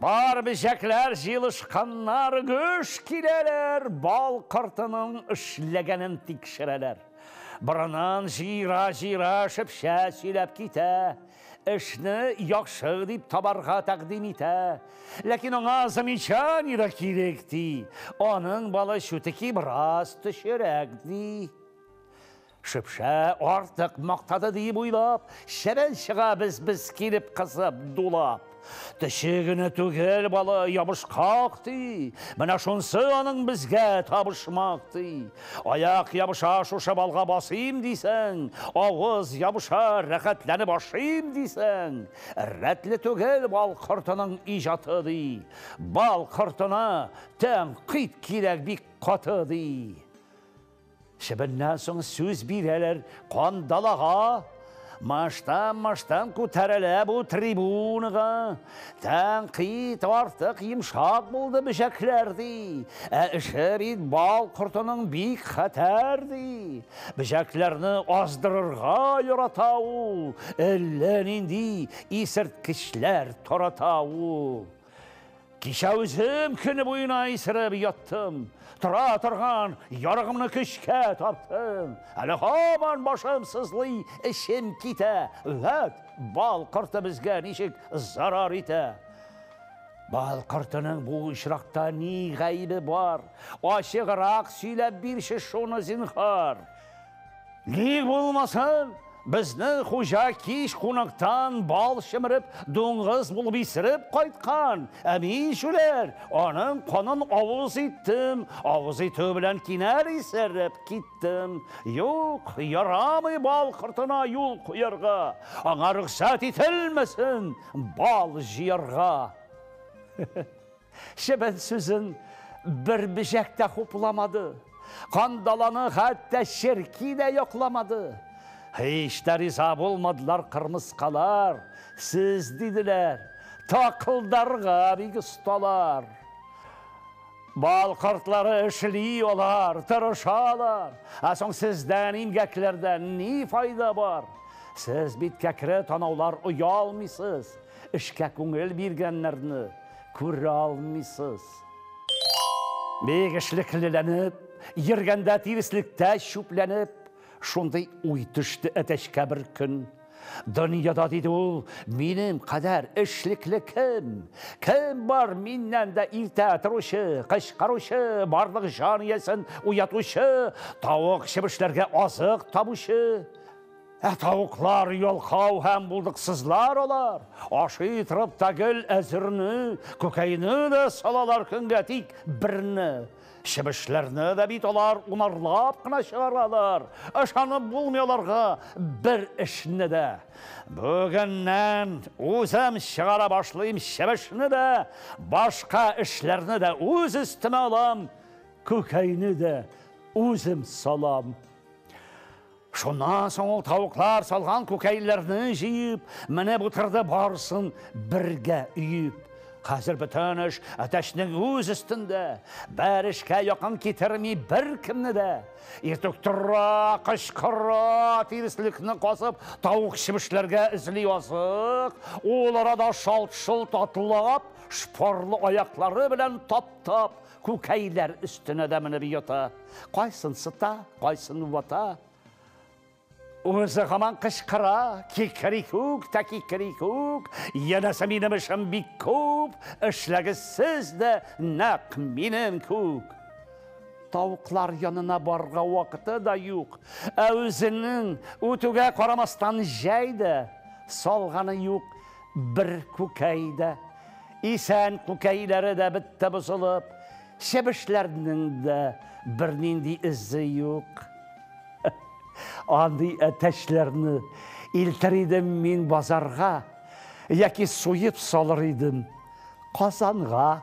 Бар бөҗәкләр җыелышканнар, гөж киләләр, бал кортының эшләгәнен тикшерәләр. Борынын җыера-җыера шепчә сөйләп китә, эшне яхшы дип табарга тәкъдим итә. Ләкин аңа замечание да кирәк, ди. Аның балы чутеки бераз төчерәк, ди. Шөпшә артык мактады диеп уйлап, Чебен чыга без-без килеп кысып, дулап. Төче генә түгел балы, ябышкак, ди, Менә шунсы аның безгә табышмак, ди. Аяк ябыша шушы балга басыйм дисәң, Авыз ябыша рәхәтләнеп ашыйм дисәң, Рәтле түгел бал кортының иҗаты, ди, Бал кортына тәнкыйть кирәк бик каты, ди. Чебеннән соң сүз бирәләр кандалага, Маштан-маштан күтәрелә бу трибунага. Тәнкыйть артык йомшак булды бөҗәкләр ди. Ә эше бит бал кортының бик хәтәр ди. Бөҗәкләрне аздырырга ярата ул, әллә нинди исерткечләр тарата ул. Кичә үзем көне буена исереп яттым. Тора торган ярыгымны көчкә таптым. Әле һаман башым сызлый, эчем китә. Вәт, бал корты безгә ничек зарар итә. Бал кортының бу очракта ни гаебе бар? Ачыграк сөйләп бирче шуны, зинһар. Ни булмасын, безнең хуҗа кич кунактан бал чемереп, дуңгыз булып исереп кайткан. Ә мин, шүләр, аның канын авыз иттем, авыз итү белән кинәр исереп киттем. Юк, ярамый бал кортына юл куярга, аңа рөхсәт ителмәсен бал җыярга. Чебен сүзен бер бежәк тә хупламады. Кандаланы хәтта черки дә йокламады. Һич тә риза булмадылар кырмыскалар. Сез, диделәр, такылдарга бик осталар. Бал кортлары эшли алар, тырышалар. Ә соң сездән имгәкләрдән ни файда бар? Сез бит кәкре танаулар оялмыйсыз, эшкә күңел биргәннәрне. күрә алмыйсыз. Бик эшлеклеләнеп, йөргәндә тиреслектә чүпләнеп, шундый уй төште әтәчкә бер көн. Дөньяда, диде ул, минем кадәр эшлекле кем? Кем бар миннән дә иртә торучы, кычкыручы, барлык җан иясен уятучы, тавык-чебешләргә азык табучы? Ә тавыклар, ялкау һәм булдыксызлар алар. Ашый торып та гел әзерне, күкәйне дә салалар көнгә тик берне. Чебешләрне дә бит алар унарлап кына чыгаралар. Ышанып булмый аларга бер эшне дә. Бүгеннән үзем чыгара башлыйм чебешне дә, башка эшләрне дә үз өстемә алам, күкәйне дә үзем салам. Шуннан соң ул тавыклар салган күкәйләрне җыеп, менеп утырды барысын бергә өеп. Хәзер бөтен эш әтәчнең үз өстендә. Бер эшкә якын китерми беркемне дә. Иртүк тора, кычкыра, тиреслекне касып, тавык чебешләргә эзли азык. Ул арада шалт-шолт атлап, шпорлы аяклары белән таптап, Күкәйләр өстенә дә менеп ята. Кайсын сыта, кайсын вата. Үзе һаман кычкыра, кикерикүк тә кикерикүк, янәсе минем эшем бик күп, эшләгез сез дә нәкъ минем күк. Тавыклар янына барга вакыты да юк. Ә үзенең үтүгә карамастан җәй дә салганы юк. Бер күкәй дә, исән күкәйләре дә бетте бозылып, чебешләрнең дә бернинди эзе юк. Андый әтәчләрне илтер идем мин базарга, яки суеп салыр идем Казанга.